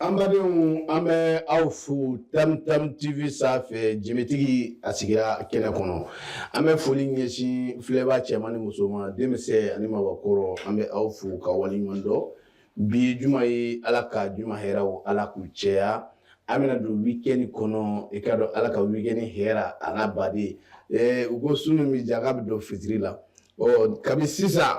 An badenw an bɛ aw fo tam tv sanfɛ jɛmutigi an sigira kɛnɛ kɔnɔ an bɛ foli ɲɛsin filɛbaa cɛman ni musoman denmisɛnnin ani maakɔrɔ an bɛ aw fo ka waleɲuman dɔn bi juma ye ala ka juma hɛrɛ o ala k'u caya an bɛna don week-end kɔnɔ i k'a dɔn ala ka week-end hɛra an baden u ko su min bɛ diya k'a bɛ dɔn fitiri la ɔ kabini sisan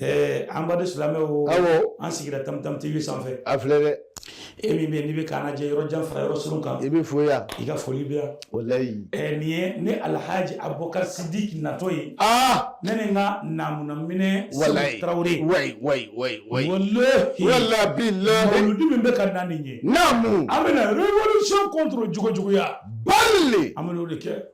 Ɛɛ an baden silamɛw an sigira tam tv sanfɛ a filɛ dɛ e min bɛ n'i bɛ k'an lajɛ yɔrɔ jan fara yɔrɔ surun kan i bɛ foli yan i ka foli bɛ yan walayi nin ye ne alahaaji abubakari sidiki natɔ ye aa ne ni n ka namuminɛ walayi tarawele mawuludi min bɛ ka na nin ye naamu an bɛna révolution contre jogojuguya ba an b'o de kɛ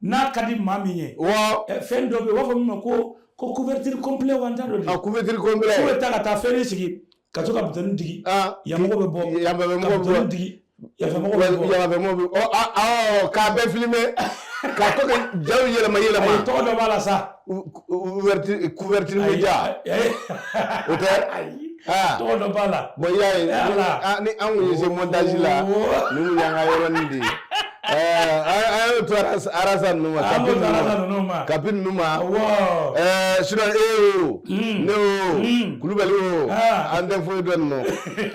n'a ka di maa min ye fɛn dɔ bɛ yen u b'a fɔ min ma ko ko couverture complet wa n t'a dɔn dɛ couverture complet k'u bɛ taa ka taa fɛn sigi ka to ka butɔni digi yanmɔgɔ bɛ bɔ yanmɔgɔ bɛ bɔ digi yanfɛmɔgɔ bɛ bɔ yanfɛmɔgɔ bɛ bɔ k'a bɛɛ filime ka to ka jaw yɛlɛma yɛlɛma tɔgɔ dɔ b'a la sa ouverture couverture média o tɛ ayi tɔgɔ dɔ b'a la bon y'a ye ni an kun ye se montage la nin kun y'an ka yɔrɔnin de ye an y'o to arasa ninnu ma kapi ninnu ma kapi ninnu ma sinɔn e o ne o kulubali o an tɛ foyi dɔn ninnu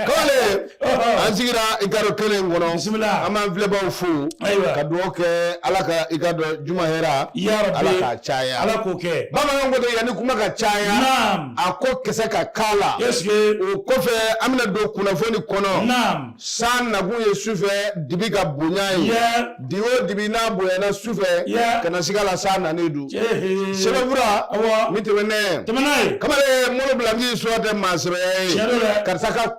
ko la an sigira i k'a dɔn kɛnɛ in kɔnɔ bisimila an b'an filɛbaaw fo ayiwa ka dugawu kɛ ala ka i k'a dɔn juma hɛra yarabi ala k'a caya ala k'o kɛ bamananw ko ten yanni kuma ka caya naam a ko kisɛ ka k'a la ɛseke o kɔfɛ an bɛna don kunnafoni kɔnɔ naam san nakun ye sufɛ dibi ka bonya ye yɛ di o dibi n'a bonyana sufɛ Yɛ. kana siga la san nanen don ehe sɛbɛnfura awa min tɛmɛnen tɛmɛna ye kamalen molo bilanci sɔ tɛ maa sɛbɛya ye Tiɲɛ don dɛ. karisa ka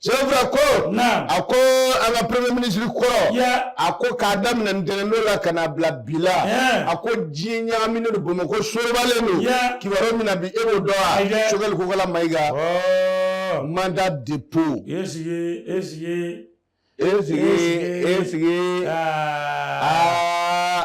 sɛbɛnfura ko a ko an ka premier ministre kɔrɔ a ko k'a daminɛ ntɛnɛndon la ka n'a bila bi la a ko diɲɛ ɲagaminen don bamakɔ sorobalen don kibaruya min na bi e b'o dɔn wa sogɛli kokala mayiga oh. mandat dépôt esige esige esige esige aa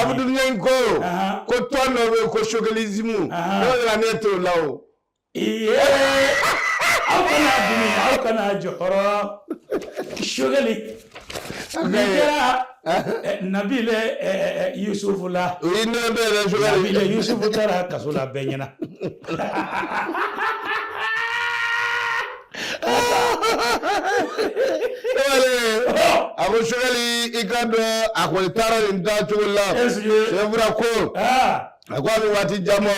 abudulayi ko ko tɔn dɔ bɛ yen ko sogɛlizimu n'o nana ne t'o la o. aw kana dimi aw kana jɔrɔ sogɛli nin kɛra nabile yusufu la o ye ne bɛ yɛrɛ sogɛli nabile yusufu taara kaso la bɛɛ ɲɛna. a ko sogɛli i ka dɔn a kɔni taara nin taa cogo la sɛbɛnfura ko a ko a bɛ waati jan bɔ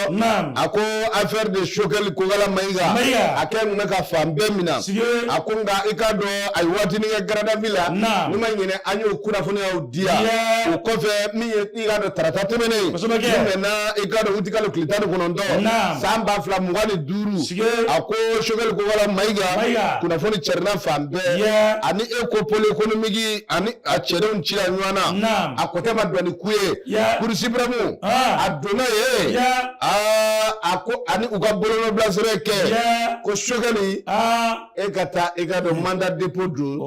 a ko affaire de sogɛli kokala mayiga a kɛ kun bɛ ka fan bɛɛ minɛ a ko nka i ka dɔn a ye waatinin kɛ garde à vue la n'i ma ɲinɛ an y'o kunnafoniyaw di yan o kɔfɛ min ye i ka dɔn tarata tɛmɛnen kosɛbɛ kɛ min mɛnna i ka dɔn utikalo tile tan ni kɔnɔntɔn naam san ba fila mugan ni duuru sigi a ko sogɛli kokala mayiga mayiga kunnafoni cɛrina fan bɛɛ yeah. ani e ko pôle économique ani a cɛdenw cila ɲɔgɔn na naam a kɔtɛ ma dɔn ni ku ye yeah. cour suprême ah. a donna yen yeah. a ko ani u ka bolonɔbilasɛbɛn kɛ yeah. ko sogɛli ah. e ka taa i ka dɔn mandat dépôt don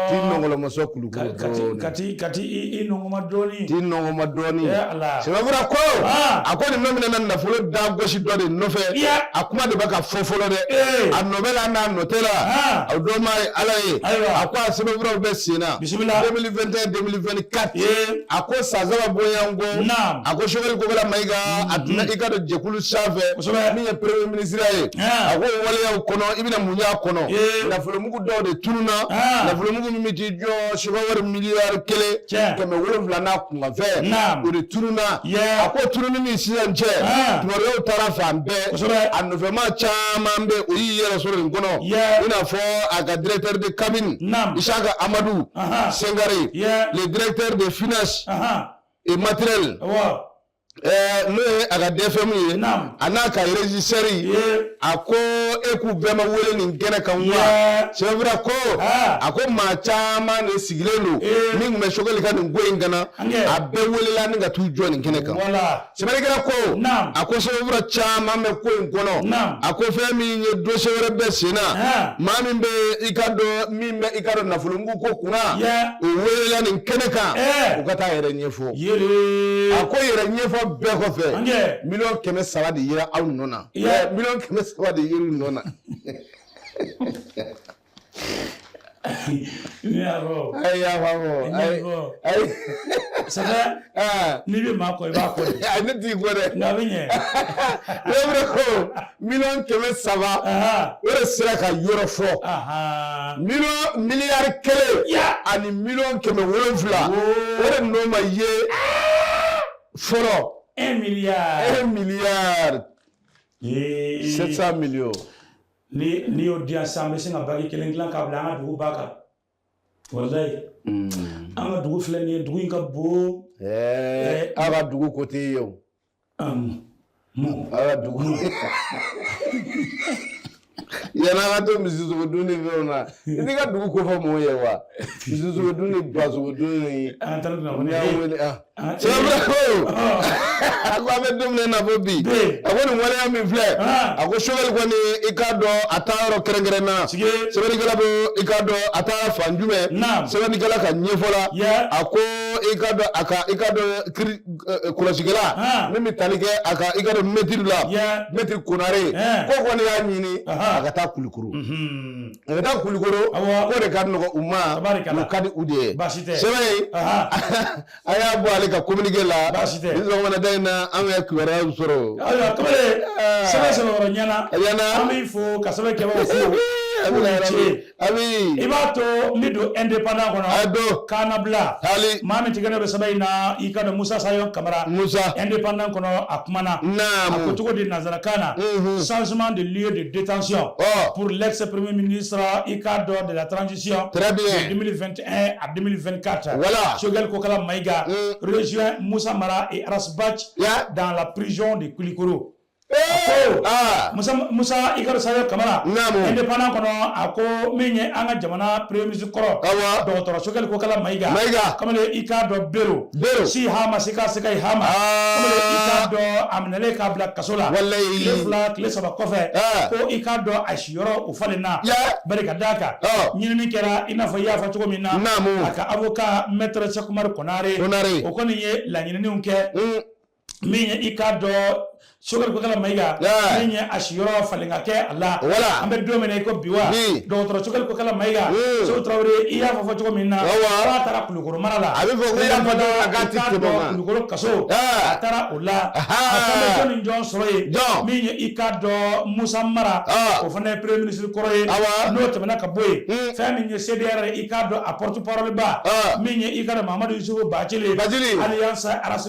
t'i nɔnkɔlɔmɔsɔ kulukulu dɔɔni ka ti ka t'i nɔnkɔnma dɔɔni t'i nɔnkɔnma dɔɔni sɛbɛnfura ko a ko nin nɔminɛna nafolo da gosi dɔ de nɔfɛ a kuma de bɛ ka fɔ fɔlɔ dɛ a nɔ bɛ la n'a nɔ tɛ la a dɔnbaa ye ala ye a ko a sɛbɛnfuraw bɛ sen na 2021 2024 a ko san saba bɔɲɔgɔn ko a ko sogɛli kokala mayiga a tun bɛ i ka dɔn jɛkulu sanfɛ min ye premier ministre ye a ko waleyaw kɔnɔ i bɛna mun y'a kɔnɔ nafolomugu dɔw de tununa nafolomugu min bɛ t'i jɔ sefawari miliyari kelen kɛmɛ wolonwula n'a kunkanfɛn o de tununa a ko tununi ni sisan cɛ tubabuw taara fan bɛɛ a nɔfɛmaa caman bɛ o y'i yɛrɛ sɔrɔ nin kɔnɔ i n'a fɔ a ka directeur de cabinet Isaka Amadu Sengare le directeur des finances et matériel. n'o ye a ka DFM ye a n'a ka régisseur a ko e k'u bɛɛ ma wele nin kɛnɛ kan wa sɛbɛnfura ko a ko maa caman de sigilen don min tun bɛ Sogɛli ka nin ko in kana a bɛɛ welela ni ka t'u jɔ nin kɛnɛ kan sɛbɛnnikɛla ko a ko sɛbɛnfura caman bɛ ko in kɔnɔ a ko fɛn min ye dossier wɛrɛ bɛ sen na maa min bɛ i ka dɔn min bɛ i ka dɔn nafolomugu ko kunna o welela nin kɛnɛ kan u ka taa a yɛrɛ ɲɛfɔ. a ko yɛrɛ ɲɛfɔ bɛɛ kɔfɛ miliyɔn kɛmɛ saba de yera aw nɔ na miliyɔn kɛmɛ saba de yer'u nɔ na n'i bɛ maa kɔ i b'a kɔ ne t'i kɔ dɛ ne ko miliyɔn kɛmɛ saba o de sera k'a yɔrɔ fɔ mi miliyari kelen ani miliyɔn kɛmɛ wolonwula o de nɔ ma ye fɔlɔ un milliard un milliard sept cents millions n'i y'o di yan sisan an bɛ sin ka baki kelen dilan k'a bila an ka dugu ba kan walayi mm. an ka dugu filɛ nin ye dugu in ka bon aw ka dugu ko tɛ ye o Um, mo. Aw ka dugu. Yann'an ka to misisogo dun ni fɛnw na i t'i ka dugu kofɔ mɔgɔw ye wa misisogo dun ni basogo dunni. an taara dun na ko ne y'a wele ah sɛbɛn ko a ko an bɛ don min na fo bi a ko nin waleya min filɛ a ko Choguel kɔni i k'a dɔn a taa yɔrɔ kɛrɛnkɛrɛn na sɛbɛnnikɛla bɛ i k'a dɔn a taa fan jumɛn sɛbɛnnikɛla ka ɲɛfɔ la a ko i k'a dɔn a ka i k'a dɔn kiri. kɔlɔsikɛla min bɛ tali kɛ a ka i k'a dɔn mɛtiri la mɛtiri Konare k'o kɔni y'a ɲini a ka taa Kulikoro a ka taa Kulikoro k'o de ka nɔgɔ u ma o ka di u de ye sɛbɛn ye a y'a bɔ ale ka kominike la nin sɔgɔmada in na an bɛ kibaruya sɔrɔ ayiwa tɔgɔ sɛbɛn sɛbɛn yɔrɔ ɲɛna ɲɛna an b'i fo ka sɛbɛn kɛbagaw fo a bɛ na ci Ami. I b'a to n bɛ don indépendant kɔnɔ. A don. Kan'a bila. Taali. Maa min tigɛnɔ bɛ sɛbɛn in na i k'a dɔn Musa Sayon Kamara. Musa. Indépendant kɔnɔ a kumana. Naamu. A ko cogo di nanzarakan na. Unhun. Changement de lieu de détention. Ɔ. Pour l'ex premier ministre i k'a dɔn de la transition. Très bien. De 2021 à 2024. Voilà. Choguel Kokala Maïga. Un. Rejoint Musa Mara et Ras Bath. Ya. Dans la prison de Kulikoro. Musa i k'a dɔn Sayon Kamara indépendant kɔnɔ a ko min ye an ka jamana premier ministre kɔrɔ dɔgɔtɔrɔ Choguel Kokala Maïga kamalen i k'a dɔn bere si ha ma se ka se ka hama i k'a dɔn a minɛlen k'a bila kaso la tile fila tile saba kɔfɛ ko i k'a dɔn a siyɔrɔ o falen na bari ka d'a kan ɲinini kɛra i n'a fɔ i y'a fɔ cogo min na a ka avocat maître Cheick Oumar Konare o kɔni ye laɲininiw kɛ min ye i k'a dɔn Choguel Kokala Maïga min ye a siyɔrɔ falen ka kɛ a la wala an bɛ don min na i ko bi wa dɔgɔtɔrɔ Choguel Kokala Maïga Seku Tarawele i y'a fɔ cogo min na k'a taara Kulikoro mara la a bɛ fɔ ko i y'a fɔ dɔrɔn a k'a ti tɛmɛ o kan Kulikoro kaso a taara o la a taara jɔn ni jɔn sɔrɔ yen min ye i k'a dɔn musa mara o fana ye premier ministre kɔrɔ ye n'o tɛmɛna ka bɔ yen fɛn min ye cdr ye i k'a dɔn a porte parole ba min ye i k'a dɔn mamadu yusufu Bacili alias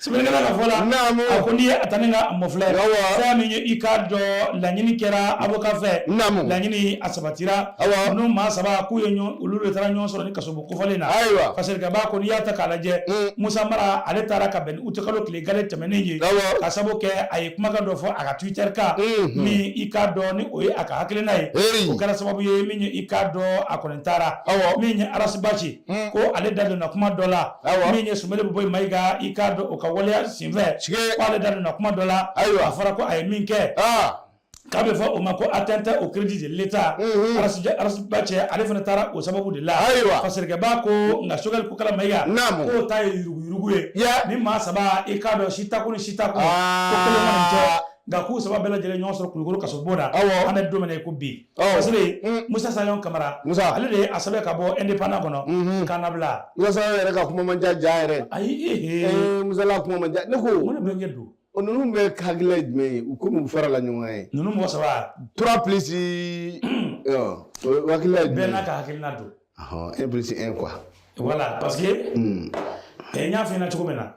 sɛbɛnnikɛla ka fɔ la a ko n'i ye a ta nin k'a mafilɛ fɛn min ye i k'a dɔn laɲini kɛra avocat fɛ laɲini a sabatira n'u maa saba k'u ye olu de taara ɲɔgɔn sɔrɔ nin kasobon kofɔlen na ayiwa parce que kaba ko n'i y'a ta k'a lajɛ Musa Mara ale taara ka bɛn ni utikalo tile gale tɛmɛnen ye ka sabu kɛ a ye kumakan dɔ fɔ a ka twitter kan min i k'a dɔn ni o ye a ka hakilina ye o kɛra sababu ye min ye i k'a dɔn a kɔni a taara min ye Arasibaci hmm. ko ale da donna kuma dɔ la min ye Sumeyilu Bubɛyi Mayiga i k'a dɔn o ka waleya senfɛ ko ale da donna kuma dɔ la a fɔra ko a ye min kɛ ah. k'a bɛ fɔ o ma ko atteinte au crédit de l'État mhm. Arasibaci ale fana taara o sababu de la ayiwa sɛbɛnnikɛla ko nka Sogɛli Kokala Mayiga k'o ta ye yuruguyurugu ye nin maa saba i k'a dɔn si tako ni si tako ko kelen mana cɛ nka k'u saba bɛɛ lajɛlen ɲɔgɔn sɔrɔ kulukoro kasobon na an bɛ don min na i ko bi parce que Musa Sayɔn Kamara ale de ye a sɛbɛn ka bɔ Indépendant kɔnɔ k'an labila Musa Sayɔn yɛrɛ ka kuma man ca jaa yɛrɛ ayi Musa la kuma man ca ne ko olu bɛɛ ɲɛ don o ninnu bɛɛ hakilina ye jumɛn ye u komi u farala ɲɔgɔn kan ninnu mɔgɔ saba trois plus o hakilina ye jumɛn ye bɛɛ n'a ka hakilina don un plus un quoi voilà parce que n y'a f'i ɲɛna cogo min na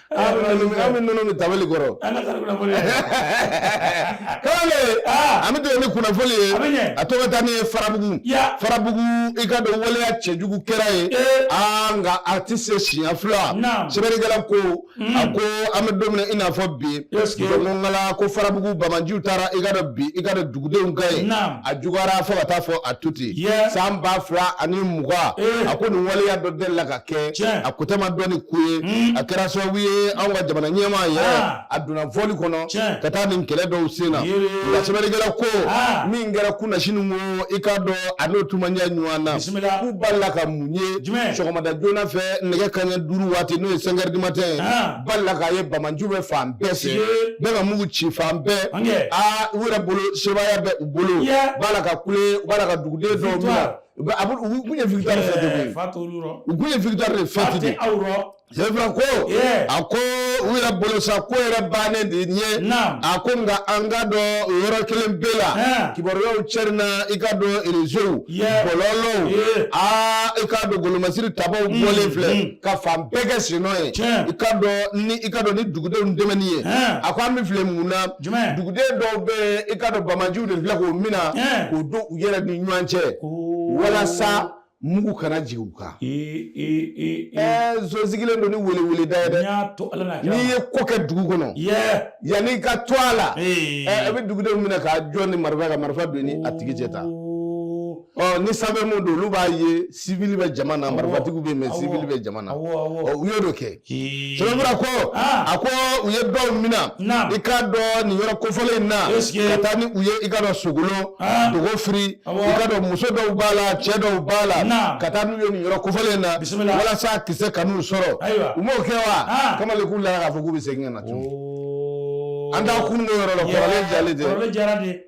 tabali kɔrɔ an bɛ ni kunnafoni ye a to ka taa n'i ye farabugu farabugu i k'a dɔn waleya cɛjugu kɛra yen nka a tɛ se siɲɛ fila sɛbɛnnikɛla ko a ko an bɛ don min na i n'a fɔ bi dɔnkala ko farabugu banbaganciw taara i k'a dɔn bin i k'a dɔn dugudenw kan yen a juguyara fo ka taa fɔ a tuti san ba fila ani mugan a ko nin waleya dɔ delila ka kɛ a ko tɛ ma dɔn ni ko ye hmm. a kɛra sababu ye anw ka jamana ɲɛmaa yɛrɛ ah. a donna vol kɔnɔ ka taa nin kɛlɛ dɔw sen na nka sɛbɛnnikɛla ko ah. min kɛra kunasini ko i k'a dɔn a n'o tuma ɲɛ ɲɔgɔn na k'u balila ka mun ye sɔgɔmada joona fɛ nɛgɛ kanɲɛ duuru waati n'o ye cinq heures du matin ye ah. balila k'a ye banbaganciw bɛ fan bɛɛ fɛ bɛɛ ka mugu ci fan bɛɛ aa u yɛrɛ bolo sebaaya bɛ u bolo u b'a la ka kule u b'a la ka duguden dɔw minɛ U bɛ abu u kun ye victoire de fêter koyi, ɛɛ, fa t'olu yɔrɔ, u kun ye victoire de fêter koyi, fa tɛ aw yɔrɔ, c'est vrai ko, ee, a ko u yɛrɛ bolo sa ko yɛrɛ bannen de ɲɛ, naamu, a ko nka an ka dɔn o yɔrɔ kelen bɛɛ la, ɛɛ, kibaruyaw cɛrina i k'a dɔn réseaux, yeah, bɔlɔlɔw, ee, aa i k'a dɔn golomasiri tabaaw Mm, bɔlen filɛ mm. ka fan bɛɛ kɛ sennɔ ye, Tiɲɛ. i k'a dɔn ni i k'a dɔn ni dugudenw dɛmɛni ye, ɛɛ. a ko an bɛ filɛ mun na jumɛn duguden dɔw bɛ i k'a dɔn banbaganciw de filɛ k'o mina k'o don u yɛrɛ ni ɲɔgɔn cɛ walasa mugu kana jigin u kan ɛɛ nson sigilen don ni weleweleda ye dɛ n'i ye ko kɛ dugu kɔnɔ yanni i ka to a la ɛɛ i bɛ dugudenw minɛ k'a jɔ ni marifa ka marifa don ni a tigi cɛ ta. ɔ ni sanfɛ mun don olu b'a ye sivili bɛ jama na marifatigiw bɛ yen mɛ sivili bɛ jama na ɔ u y'o de kɛ ko a ko u ye dɔw mina i k'a dɔn nin yɔrɔ kofɔlen in na ka taa ni u ye i k'a dɔn Sokolo Dogofiri i k'a dɔn muso dɔw b'a la cɛ dɔw b'a la ka taa n'u ye nin yɔrɔ kofɔlen in na walasa kisɛ kan'u sɔrɔ u m'o kɛ wa kamalen k'u lara k'a fɔ k'u bɛ segin ka na tuguni an t'an kun don yɔrɔ la kɔrɔlen jalen tɛ.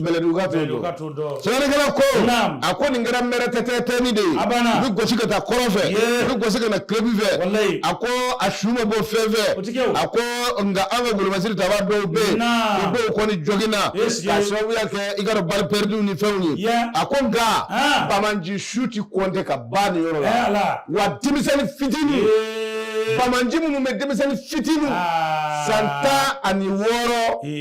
Bɛlɛdugu ka t'o dɔn, ka t'o dɔn, Sɛbɛnnikɛla ko, naamu, a ko nin kɛra mɛrɛtɛtɛtɛni de ye, a banna, u bɛ gosi ka taa kɔrɔn fɛ, u bɛ gosi ka na kilebi fɛ, walayi, a ko a su ma bɔ fɛn fɛ, o tɛ kɛ o, a ko nka an ka golomasiri taba dɔw bɛ yen, naamu, u dɔw kɔni jɔginna, k'a sababuya kɛ i k'a dɔn balles perdues ni fɛnw ye, a ko nka banbaanci su tɛ kɔnte ka ban nin yɔrɔ la, wa denmisɛnni fitini, banbaanci minnu bɛ denmisɛnni fitini san tan ani wɔɔrɔ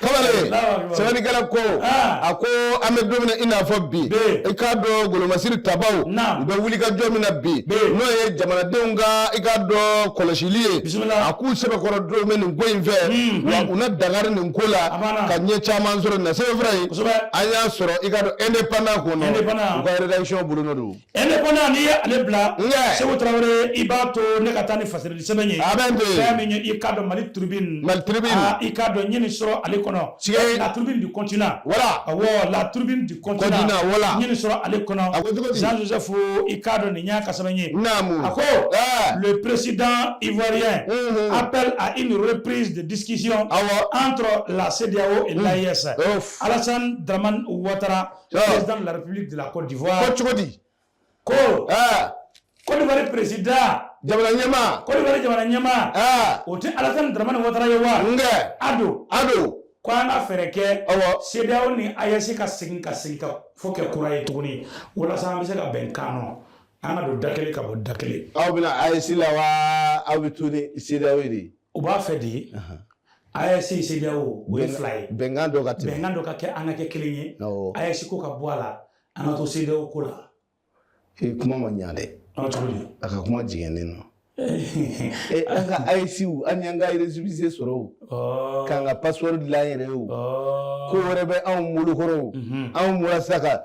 kamalen sɛbɛnnikɛla ko ah. a ko an bɛ don min na i n'a fɔ bi i k'a dɔn golomasiri tabaw u bɛ wulikajɔ min na bi n'o ye jamanadenw ka i k'a dɔn kɔlɔsili ye a k'u sɛbɛkɔrɔ don bɛ nin ko in fɛ hmm, wa hmm. u na dangari nin ko la ka ɲɛ caman sɔrɔ nin na sɛbɛnfura in an y'a sɔrɔ i k'a dɔn indépendant kɔnɔ u ka rédaction bolonɔ don indépendant n'i ye ale bila seku tarawele i b'a to ne ka taa ni fasirili sɛbɛn ye fɛn min ye i k'a dɔn Mali Tribune Mali Tribune ah, i k'a dɔn n ye nin sɔrɔ ale kɔnɔ la tribune du continent voilà awɔ la tribune du continent voilà n ye nin sɔrɔ ale kɔnɔ a ko cogo di jean joseph i k'a dɔn nin y'a ka sɛbɛn ye naamu a ko le président ivoirien appelle à une reprise de discussion awɔ entre la CEDEAO et l'AES Alassane Dramane Ouattara président de la république de la côte d'ivoire ko cogo di ko côte d'ivoire président jamana ɲɛmaa côte d'ivoire jamana ɲɛmaa o tɛ alasani daramani watara ye wa n kɛ ADO ADO ko an ka fɛɛrɛ kɛ CEDEAO ni AES ka segin ka sigikafɔ kɛ kura ye tuguni walasa an bɛ se ka bɛn kan nɔ an ka don da kelen ka bɔ da kelen aw bɛ na AES la wa aw bɛ to ni CEDEAO de ye U b'a fɛ de ye AES CEDEAO o ye fila ye bɛnkan dɔ ka bɛnkan dɔ ka kɛ an ka kɛ kelen ye AES ko ka bɔ a la an ka to CEDEAO ko la ee kuma ma ɲɛ dɛ a ka kuma jɛngɛnen don an ka AES an y'an ka récépissé sɔrɔ o k'an ka passeport dilan yɛrɛ ye o ko wɛrɛ bɛ anw bolo kɔrɔ anw bɔra sa ka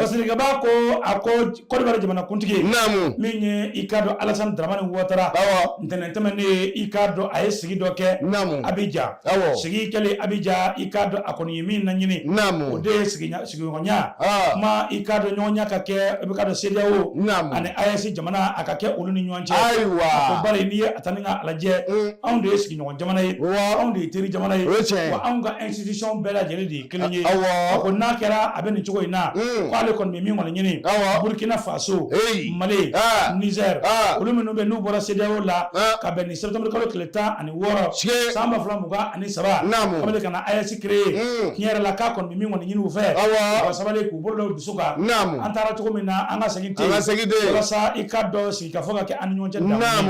fasiri ka ban ko a ko côte d'ivoire jamana kuntigi naamu min ye i k'a dɔn alasan dramani watara awɔ ntɛnɛn tɛmɛnen i k'a dɔn a ye sigi dɔ kɛ naamu Abidjan awɔ sigi kɛlen Abidjan i k'a dɔn a kɔni ye min laɲini naamu o de ye sigiɲɔgɔnya kuma i k'a dɔn ɲɔgɔnya ka kɛ i bɛ k'a dɔn CEDEAO naamu ani AES jamana a ka kɛ olu ni ɲɔgɔn cɛ ayiwa ko bari n'i ye a ta ni ka a lajɛ anw de ye sigi ɲɔgɔn jamana ye anw de ye teri jamana ye wa anw ka institution bɛɛ lajɛlen de ye kelen ye a ko n'a kɛra a bɛ nin cogo in na hmm. k'ale kɔni bɛ min kɔni ɲini Burkina Faso Mali ah. Niger ah. olu minnu bɛ n'u bɔra CEDEAO la ah. ka bɛn ni septembre kalo tile tan ani wɔɔrɔ san ba fila mugan ani saba k'o de ka na AES créer hmm. tiɲɛ yɛrɛ la k'a kɔni bɛ min kɔni ɲini u fɛ u ka sabali k'u bolo da u dusu kan an taara cogo min na an ka segin ten walasa i k'a dɔn sigikafɔ ka kɛ an ni ɲɔgɔn cɛ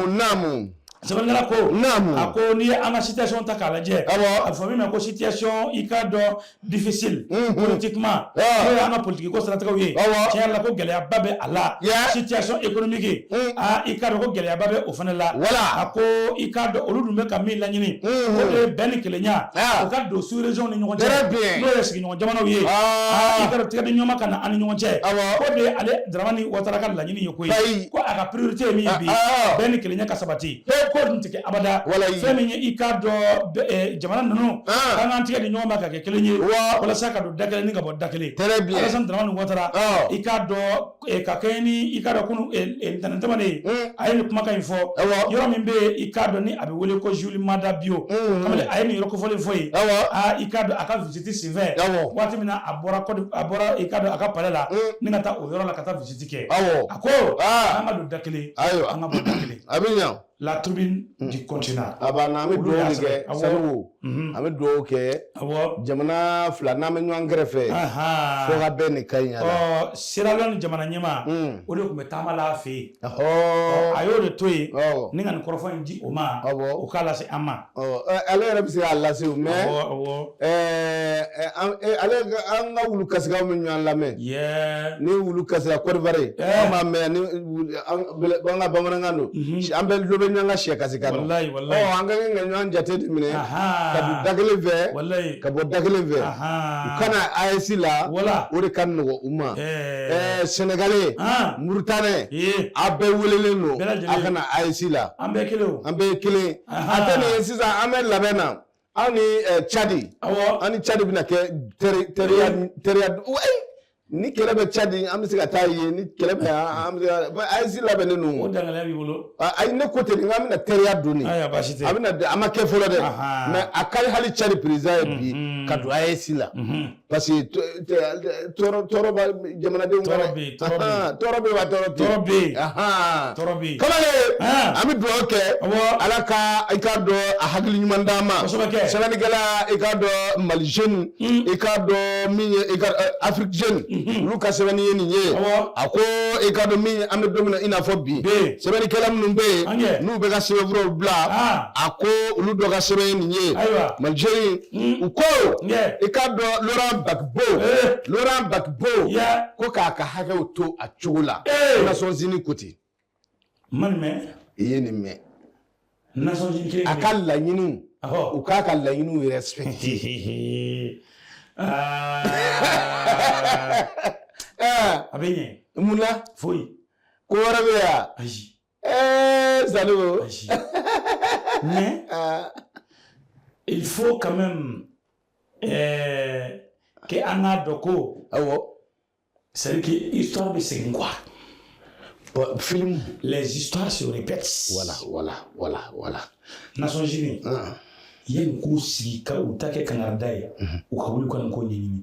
naamu. sɛbɛnnikɛla ko naamu a ko n'i ye an ka situation ta k'a lajɛ awɔ a bɛ fɔ min ma ko situation i k'a dɔn difficile politiquement n'o ye an ka politiki ko siratigɛw ye awɔ tiɲɛ yɛrɛ la ko gɛlɛyaba bɛ a la situation économique aa i k'a dɔn ko gɛlɛyaba bɛ o fana la wala a ko i k'a dɔn olu dun bɛ ka min laɲini o de ye bɛn ni kelenya o ka don sous région ni ɲɔgɔn cɛ n'o ye sigiɲɔgɔn jamanaw ye i k'a dɔn tigɛdi ɲɔgɔn ma ka na an ni ɲɔgɔn cɛ k'o de ale Dramane Ouattara ka laɲini ye koyi ko a ka priorité ye min ye bi bɛn ni kelenya ka sabati k'o dun tɛ kɛ abada fɛn min ye i k'a dɔn jamana ninnu k'an k'an tigɛ di ɲɔgɔn ma ka kɛ kelen ye walasa ka don da kelen ni ka bɔ da kelen Alassane Dramane Ouattara i k'a dɔn Eh, ka kɛɲɛ ni i k'a dɔn kunu eh, eh, ntɛnɛn tɛmɛnen ye hmm. a ye nin kumakan in fɔ yɔrɔ min bɛ i k'a dɔn ni a bɛ wele ko Julius Maada Bio hmm. kamalen a ye nin yɔrɔ kofɔlen fɔ yen aa i k'a dɔn a ka visiti senfɛ waati min na a bɔra kɔdi a bɔra i k'a dɔn a ka palɛ la hmm. ni ka taa o yɔrɔ la ka taa visiti kɛ a ko an ka don da kelen an ka bɔ da kelen a bɛ ɲa La tribune du continent a banna an bɛ dugawu kɛ sango an bɛ dugawu kɛ jamana fila n'an bɛ ɲɔgɔn kɛrɛfɛ fo ka bɛn ni ka ɲɛ Sierra Leone jamana ɲɛmaa o de tun bɛ taama la a fɛ yen a y'o de to yen ni ka nin kɔrɔfɔ in di o ma o k'a lase an ma ale yɛrɛ bɛ se k'a lase o mɛ ale an ka wulu kasikanw bɛ ɲɔgɔn lamɛn ni wulu kasira Côte d'Ivoire an b'a mɛn an ka bamanankan don an bɛ dɔ bɛ ɲɔgɔn ka sɛ kasikan an ka kan ka ɲɔgɔn jate de minɛ ka don da kelen fɛ ka bɔ da kelen fɛ u ka na AES la o de ka nɔgɔ u ma Sénégalais Mauritanien a bɛɛ welelen don a ka na AES la an bɛɛ kelen a tɛ nin ye sisan an bɛ labɛn na aw ni cadi an ni cadi bɛna kɛ teriya teriya ni kɛlɛ bɛ cadi an bɛ se ka taa yen ni kɛlɛ bɛ an bɛ AES labɛnnen don o dangalen b'i bolo ayi ne ko ten n k'an bɛna teriya don nin a baasi tɛ a bɛna a ma kɛ fɔlɔ dɛ mɛ a ka di hali cadi président ye bi ka don AES la parce que tɔɔrɔ b'a jamanadenw kan tɔɔrɔ bɛ yen tɔɔrɔ bɛ yen wa tɔɔrɔ tɔɔrɔ bɛ yen tɔɔrɔ bɛ yen kamalen an bɛ dugawu kɛ ala ka i k'a dɔn a hakili ɲuman d'an ma sɛbɛnnikɛla i k'a dɔn mali jeune i k'a dɔn min ye i ka Afrique jeune olu ka sɛbɛnni ye nin ye a ko i k'a dɔn min an bɛ don min na i n'a fɔ bi sɛbɛnnikɛla minnu bɛ yen n'u bɛ ka sɛbɛnfuraw bila a ko olu dɔ ka sɛbɛn ye nin ye mali jeune Hmm. u ko i k'a dɔn Laurent Gbagbo eh. Laurent Gbagbo ko k'a ka hakɛw to a cogo la eh. Nations Unies ko ten man mɛn i ye nin mɛn Nations Unies a ka laɲiniw u k'a ka laɲiniw respecter ah. eh. a bɛ ɲɛ mun na foyi ko wɛrɛ bɛ yan ayi Zalo mais il faut quand même euh, que an k'a dɔn ko awɔ c'est que histoire bɛ segin quoi bon, film les histoires se répètent voilà voilà voilà voilà Nations Unies ah. yanni k'u sigi ka u ta kɛ kangarida ye u ka wuli ka nin ko ɲɛɲini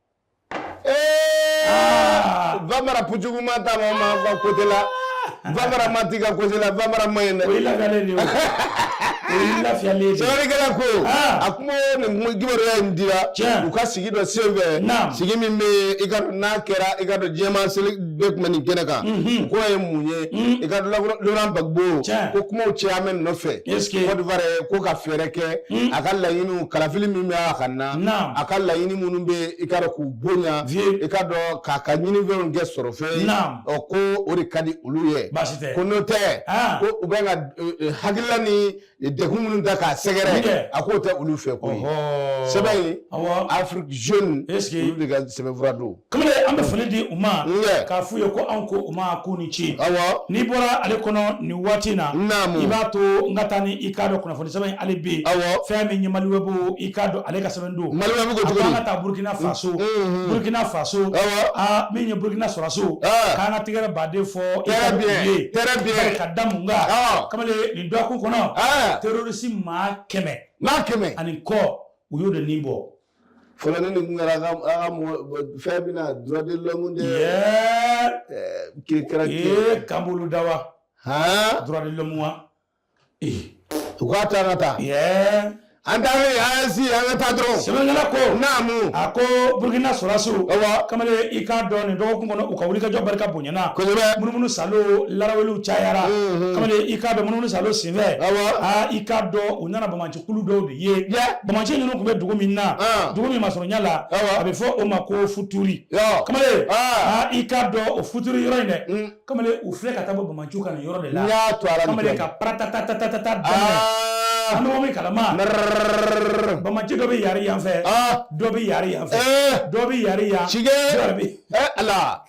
Ah! Vamara pujuguma ta ma kotila Vamara ma ti ka kotila Vamara ma ye sɛbɛnnikɛla ko ah. a kuma nin kibaruya in dira u ka sigi dɔ sen fɛ sigi min bɛ i ka n'a kɛra i k'a dɔn jama sɛbɛ tun bɛ nin kɛnɛ kan mhm. k'o ye mun ye mhm. i ka Laurent Gbagbo ko kumaw caman nɔfɛ Côte d'Ivoire ko ka fɛɛrɛ kɛ mhm. a ka laɲiniw kalafili min bɛ a ka na a ka laɲini minnu bɛ i k'a dɔn k'u bonya i k'a dɔn k'a ka ɲinifɛnw kɛ sɔrɔ fɛn ye ko o de ka di olu ye ko n'o tɛ ko u bɛ ka e, e, hakilila ni degun minnu ta k'a sɛgɛrɛ a k'o tɛ olu fɛ koyi sɛbɛn in Afrique jeune olu de ka sɛbɛnfura don kamalen an bɛ foli di u ma k'a f'u ye ko anw ko u ma k'u ni ce n'i bɔra ale kɔnɔ nin waati in na i b'a to n ka taa ni i k'a dɔn kunnafoni sɛbɛn in hali bi fɛn min ye maliwɛbu i k'a dɔn ale ka sɛbɛn don maliwɛbu ko cogo di an ka taa burukina faso burukina faso aa min ye burukina sɔrɔsiw k'an ka tɛgɛrɛba de fɔ i ka bi ye ka da mun kan kamalen nin dɔgɔkun kɔnɔ terorisi maa kɛmɛ maa kɛmɛ ani kɔ u y'o de ni bɔ fɔlɔ ne ni kun kɛra a ka a ka mɔgɔ bɔ- fɛn bɛ na droit de l'homme de yɛɛ ɛɛ, kiri kɛra kiri ee kan b'olu da wa han droit de l'homme wa ee u k'a ta ka taa yɛɛ an taara yen an si an ka taa dɔrɔn sɛbɛnkɛla ko naamu a ko burukina sɔrɔsiw ɔwɔ kamalen i k'a dɔn nin dɔgɔkun kɔnɔ u ka wulikajɔ barika bonyana kosɛbɛ munumunu salo laraweliw cayara Mhm. kamalen i k'a dɔn munumunu salo senfɛ ɔwɔ aa i k'a dɔn u nana banbaanci kulu dɔw de ye banbaanci ninnu tun bɛ dugu min na dugu min masurunya la a bɛ fɔ o ma ko futuri kamalen i k'a dɔn o futuri yɔrɔ in dɛ mm. kamalen u filɛ ka taa bɔ banbaanciw kan nin yɔrɔ de la kamalen ka patatatata daminɛ an bɛ min kalama banbaanci dɔ bɛ yari yanfɛ dɔ bɛ yari yanfɛ dɔ bɛ yari yan cikɛ ala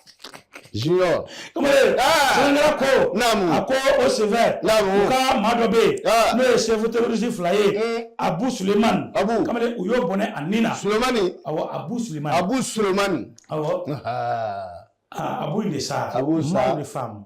Junior. Kamalen sɛbɛnkɛla ko. Naamu. A ko o senfɛ. Naamu. U ka maa dɔ bɛ yen. N'o ye chef terroriste fila ye. Abu Sulemani. Abu. Kamalen u y'o bɔnɛ a ni na. Sulemani. Awɔ Abu Sulemani. Abu Sulemani. Awɔ. Aa Abu in de sa. Abu sa. Maa de faamu.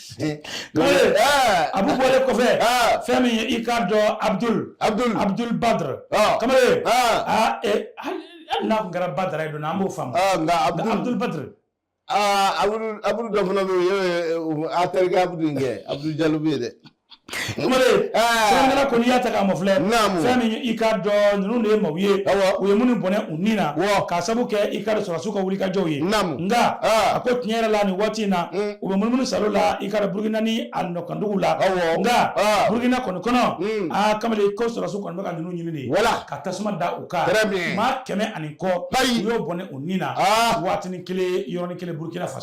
abu bɔlen kɔfɛ fɛn min ye i k'a dɔn abudul abudul abudul badr kamalen hali n'a tun kɛra badara ye don an b'o faamu nka abudul badr abudu dɔ fana bɛ yen a terikɛ abudu in kɛ abudu jalo bɛ yen dɛ sɛbɛnnikɛla kɔni y'a ta k'a mafilɛ fɛn min i k'a dɔn ninnu de ye maaw ye u ye minnu bɔnɛ u ni na k'a sabu kɛ i k'a dɔn sɔrɔsiw ka wulikajɔw ye nka a ko tiɲɛ yɛrɛ la nin waati in na u bɛ munumunu salo la i k'a dɔn burukina ni a nɔkanduguw la nka burukina kɔni kɔnɔ aa kamalen ko sɔrɔsiw kɔni bɛ ka ninnu ɲini de ka tasuma da u kan maa kɛmɛ ani kɔ u y'o bɔnɛ u ni na waatinin kelen yɔrɔnin kelen burukina faso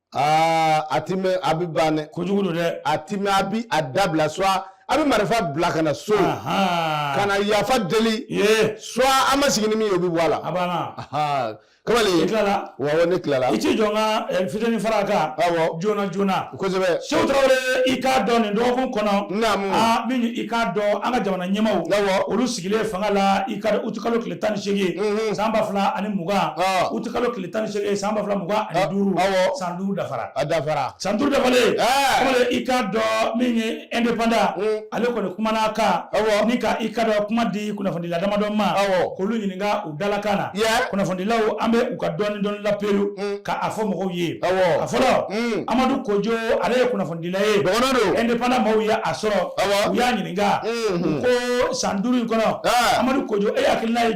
aa a ti mɛɛn a bɛ ban dɛ kojugu don dɛ a ti mɛɛn a bi a dabila soit a bɛ marifa bila ka na so Ahan. ka na yafa deli soit an ma sigi ni min ye o bɛ bɔ a la a banna Ahaa. kamalen i tilala wa awɔ ne tilala i t'i jɔ n ka eh, fitini fara a kan Awɔ. joona joona kosɛbɛ seku tarawele i k'a dɔn nin dɔgɔkun kɔnɔ Naamu. a min i k'a dɔn an ka jamana ɲɛmaaw Awɔ. olu sigilen fanga la i k'a dɔn utikalo tile tan ni seegin san ba fila ani mugan Ah. utikalo tile tan ni seegin san ba fila mugan ani Ah, duuru awɔ. san duuru dafara a dafara san duuru dafalen Ɛɛ. kamalen i k'a dɔn min ye indépendant Mm. ale kɔni kumana a kan Awɔ. ni ka i k'a dɔn kuma di kunnafonidila damadɔ ma Awɔ. k'olu ɲininka u dalakan na Yɛ. kunnafonidilaw an bɛ u ka dɔɔni dɔɔni laperu Mm. ka a fɔ mɔgɔw ye Awɔ. a fɔlɔ Mm. amadu kojo ale ye kunnafonidila ye dɔgɔnɔ don indépendant maaw ye a sɔrɔ Awɔ. u y'a ɲininka Mhm. u ko san duuru in kɔnɔ Ɛɛ. amadu kojo e hakilina ye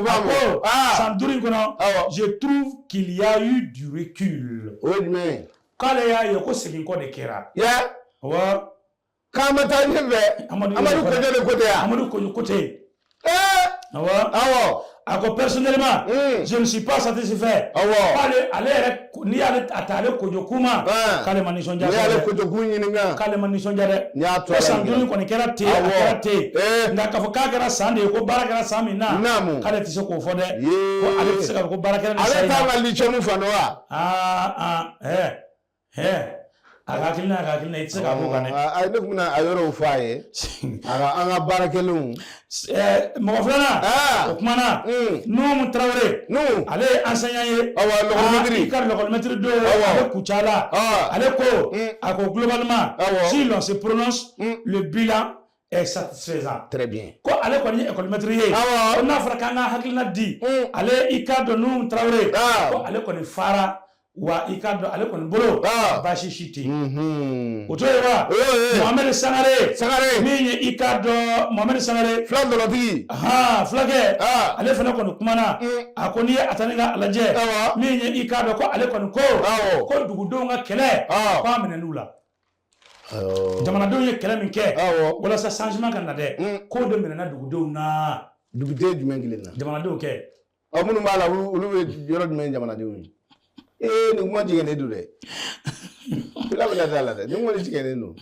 a ko san duuru in kɔnɔ je trouve qu'il y a eu du recul o ye jumɛn ye k'ale y'a ye ko segin kɔ de kɛra wa k'an ma taa ɲɛfɛ amadu kojo de ko ten yan amadu kojo ko ten awɔ awɔ a ko personnellement hmm. je ne suis pas satisfait awɔ k'ale ale yɛrɛ n'i y'ale ta ale kojo kuma k'ale ma nisɔndiya n'i y'ale kojo kun ɲininka k'ale ma nisɔndiya dɛ ko san duuru kɔni kɛra ten a kɛra ten nka k'a fɔ k'a kɛra san de ye ko baara kɛra san min na naamu k'ale tɛ se k'o fɔ dɛ ko ale tɛ se k'a fɔ ko baara kɛra nin san in na ale tɛ mali cɛma fan dɔn wa aa aa hɛ hɛ A ka hakilina y'a ka hakilina ye, i tɛ se k'a b'o kan dɛ. A ne tun bɛna a yɔrɔw fɔ a ye, a ka an ka baara kɛlenw. Mɔgɔ filanan, o kumana Nuhum Tarawele, ale ye enseignant ye, awɔ, l'école maître, i ka l'école maître don, awɔ, a bɛ Kucala, ale ko, a ko globalement, awɔ, si l'on se prononce, le bilan est satisfaisant, très bien, ko ale kɔni ye école maître ye, awɔ, ko n'a fɔra k'an ka hakilina di, ale i k'a dɔn Nuhum Tarawele, ko ale kɔni fara wa i ka dɔn ale kɔni bolo ah. baasi si tɛ yen o to yen wa mohamɛdi sangare sangare min ye i ka dɔn mohamɛdi sangare fila dɔlɔtigi han fulakɛ ah. ale fana kɔni kumana mm. a ko n'i ye a ta n'i k'a lajɛ min ye i ka dɔn ko ale kɔni ko ko dugudenw ka kɛlɛ ah. k'a minɛn'u la jamanadenw ye kɛlɛ min kɛ walasa changement ka na dɛ mm. k'o de minɛna dugudenw na duguden jumɛn kelen na jamanadenw kɛ ɔ minnu b'a la olu bɛ yɔrɔ jumɛn jamanadenw ye ee nin kuma jigɛnnen don dɛ fila bɛna d'a la dɛ nin kuma jigɛnnen don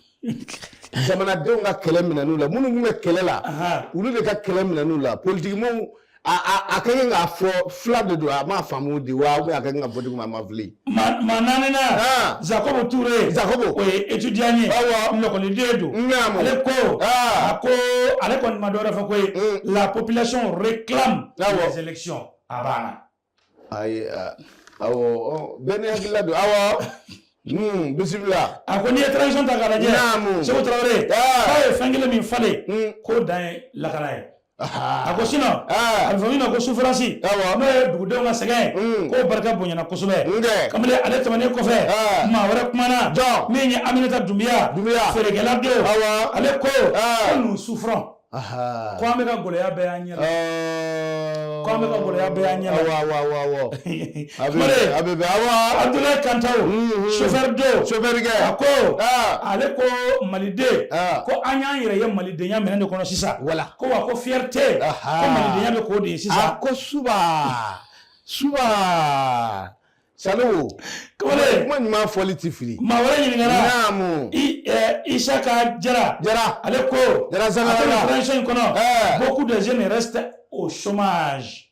jamanadenw ka kɛlɛ minɛn'u la minnu bɛ kɛlɛ la olu de ka kɛlɛ minɛn'u la politikimɔgɔw a ka kan k'a fɔ fila de don a m'a faamu de wa a kɛ ka bɔ duguma a ma fili maa naaninan ah. Jacob Touré Jacob o ye étudiant ye awɔ lakɔliden don naamu ale ko ah. a ko ale kɔni ma dɔwɛrɛ fɔ koyi mm. la population réclame les élections a banna ayi awɔ bɛɛ n'i hakilila don awɔ hmm, bisimila a ko n'i ye transition ta k'a lajɛ naamu Seku Tarawele ah. k'a ye fɛn kelen min falen hmm. k'o dan ye lakana ye a ko sinon a bɛ fɔ min ma ko souffrance n'o ye dugudenw ka sɛgɛn mm. k'o barika bonyana kosɛbɛ kabini ale tɛmɛnen kɔfɛ maa wɛrɛ kumana min ye aminata dunbiya feerekɛla don ale ko ko nous souffrons ko an bɛ ka gɔlɛya bɛɛ y'an ɲɛ ko an bɛ ka gɔlɛya bɛɛ y'an ɲɛ abe bɛ awa abudulayi kantaw sofɛri don sofɛri kɛ a ko ale ko maliden ko an y'an yɛrɛ ye malidenya min de kɔnɔ sisan wala ko wa ko fierté ko malidenya bɛ k'o de ye sisan a ko suba suba Salimu kamalen kuma ɲuman fɔli ti fili maa wɛrɛ ɲininkara naamu i Isaka Jara Jara ale ko Jara Zangara la transition in kɔnɔ beaucoup de jeunes restent au chômage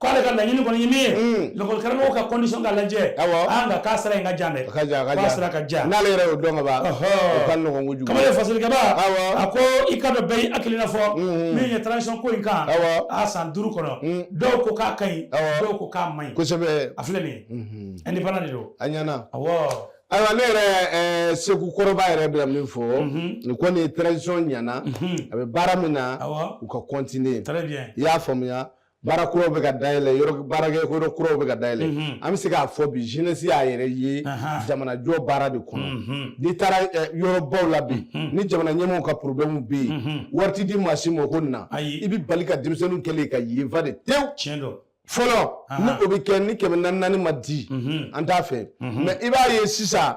k'ale ka laɲini kɔni ye min ye lakɔlikaramɔgɔw ka condition ka lajɛ nka k'a sira in ka jan dɛ k'a sira ka jan n'ale yɛrɛ y'o dɔn ka ban o ka nɔgɔn kojugu kamalen fasilikɛba a ko i ka dɔn bɛɛ y'i hakilina fɔ min ye transition ko in kan a san duuru kɔnɔ dɔw ko k'a ka ɲi dɔw ko k'a man ɲi kosɛbɛ a filɛ nin ye indépendant de don a ɲɛna awɔ ayiwa ne yɛrɛ eh, seku kɔrɔba yɛrɛ bɛna min fɔ mhm. nin kɔni transition ɲɛna mhm. a bɛ baara min na u ka continuer i y'a faamuya baara kuraw bɛ ka dayɛlɛ baarakɛyɔrɔ kuraw bɛ ka dayɛlɛ mhm. an bɛ se k'a fɔ bi jeunesse y'a yɛrɛ ye jamanajɔ baara de kɔnɔ mhm. n'i taara eh, yɔrɔbaw la bi mhm. ni jamana ɲɛmɔgɔw ka problème bɛ yen wari ti di maa si ma o ko nin na i bɛ bali ka denmisɛnninw kɛlen ka yen fa de tewu tiɲɛ don fɔlɔ ni o bɛ kɛ ni kɛmɛ naani naani ma di an t'a fɛ mais i b'a ye sisan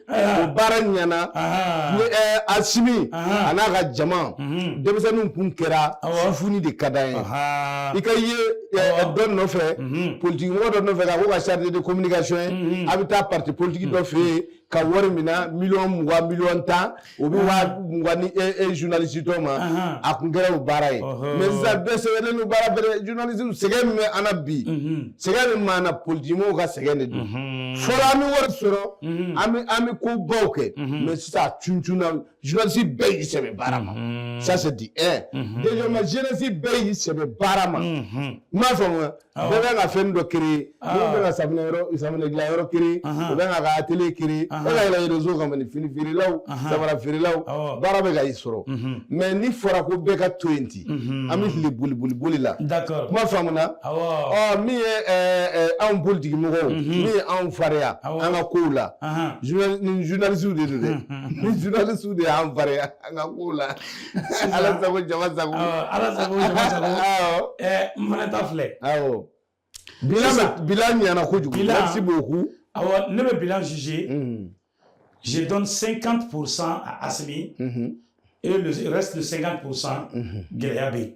o baara ɲɛna asimi a n'a ka jama denmisɛnninw kun kɛra funi de ka d'an ye i ka ye dɔ nɔfɛ politikimɔgɔ dɔ nɔfɛ ka k'o ka chargé de communication ye a bɛ taa parti politique dɔ fɛ yen ka wari mina miliyɔn mugan miliyɔn tan u bɛ waa mugan di e e journaliste tɔw ma a tun kɛra o baara ye mais sisan bɛɛ sɛgɛnnen don baara bɛɛ la journaliste sɛgɛn min bɛ an na bi sɛgɛn min b'an na politiki mɔgɔw ka sɛgɛn de don fɔlɔ an bɛ wari sɔrɔ an bɛ an bɛ ko baw kɛ mais sisan a cuncunna journaliste bɛɛ y'i sɛbɛ baara ma ça c'est de un deuxièmement jeunesse bɛɛ y'i sɛbɛ baara ma i m'a faamu wa. bɛɛ bɛ ka fɛn dɔ créer minnu bɛ ka safunɛ yɔrɔ safunɛ dilan yɔrɔ créer u bɛ ka ka atelier créer e ka yɛlɛ réseau kan ni fini feerelaw samara feerelaw baara bɛ ka i sɔrɔ mais n'a fɔra ko bɛɛ ka to yen ten an bɛ tile boli boli boli la kuma faamuna ɔ min ye anw politiki mɔgɔw min ye anw fariya an ka kow la ni journaliste de don dɛ ni journaliste de y'an fariya an ka kow la ala sago jama sago ala sago jama sago n fana ta filɛ bilan ɲɛna kojugu merci beaucoup awɔ ne bɛ bilan juger mm-hmm. je donne 50 pour cent à Asimi mm-hmm. et le reste de 50 pour cent mm-hmm. gɛlɛya bɛ yen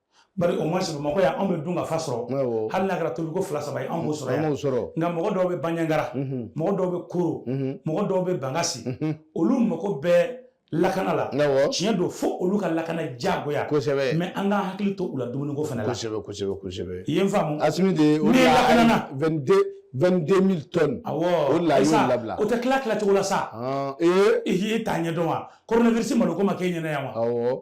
bari au moins bamakɔ yan anw bɛ dun ka fa sɔrɔ awɔ hali n'a kɛra tobiliko fila saba ye anw b'o sɔrɔ an yan b'o sɔrɔ nka mɔgɔ dɔw bɛ banjagara Mhm, mɔgɔ dɔw bɛ koro mhm, mɔgɔ dɔw bɛ bankasi mhm. olu mago bɛ lakana la awɔ tiɲɛ don fo olu ka lakana diyagoya kosɛbɛ mais an k'an hakili to u la dumuniko fana la kosɛbɛ kosɛbɛ kosɛbɛ i ye n faamu asimi de o N'i ye lakanana. 22 22000 tonnes awɔ o de la a y'o Isa, labila. o tɛ tila tila cogo la sa Ah, ee i y'i ta ɲɛ dɔn wa coronavirus malo ko ma k'e ɲɛna yan wa awɔ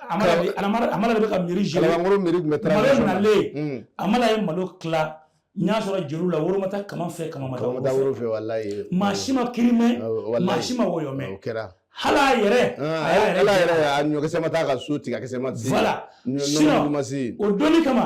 amala de bɛ ka mairie gérer kalabankoro mairie tun bɛ transition na malo nalen amala ye malo tila n y'a sɔrɔ jeliw la woro ma taa kaman fɛ kaman ma taa woro fɛ walayi maa si ma kiri mɛn maa si ma wɔyɔ mɛn o kɛra hali a yɛrɛ a y'a yɛrɛ a ɲɔkisɛ ma taa ka so tigɛ a kisɛ ma se voilà sinon o donni kama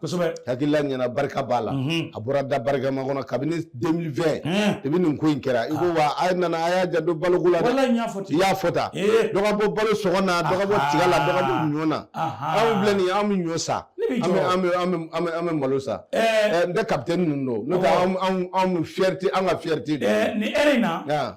kosɛbɛ hakilila ɲɛna barika b'a la a bɔra da barikama kɔnɔ kabini 2020 depuis nin ko in kɛra i ko wa a nana a y'a janto baloko la dɛ walayi n y'a fɔ ten i y'a fɔ tan dɔ ka bɔ balo sɔngɔ na dɔ ka bɔ tiga la dɔ ka bɔ ɲɔ na anw filɛ nin ye an bɛ ɲɔ san an bɛ an bɛ an bɛ an bɛ malo san n tɛ kapitɛni ninnu dɔn n'o tɛ anw anw fierté an ka fierté don nin heure in na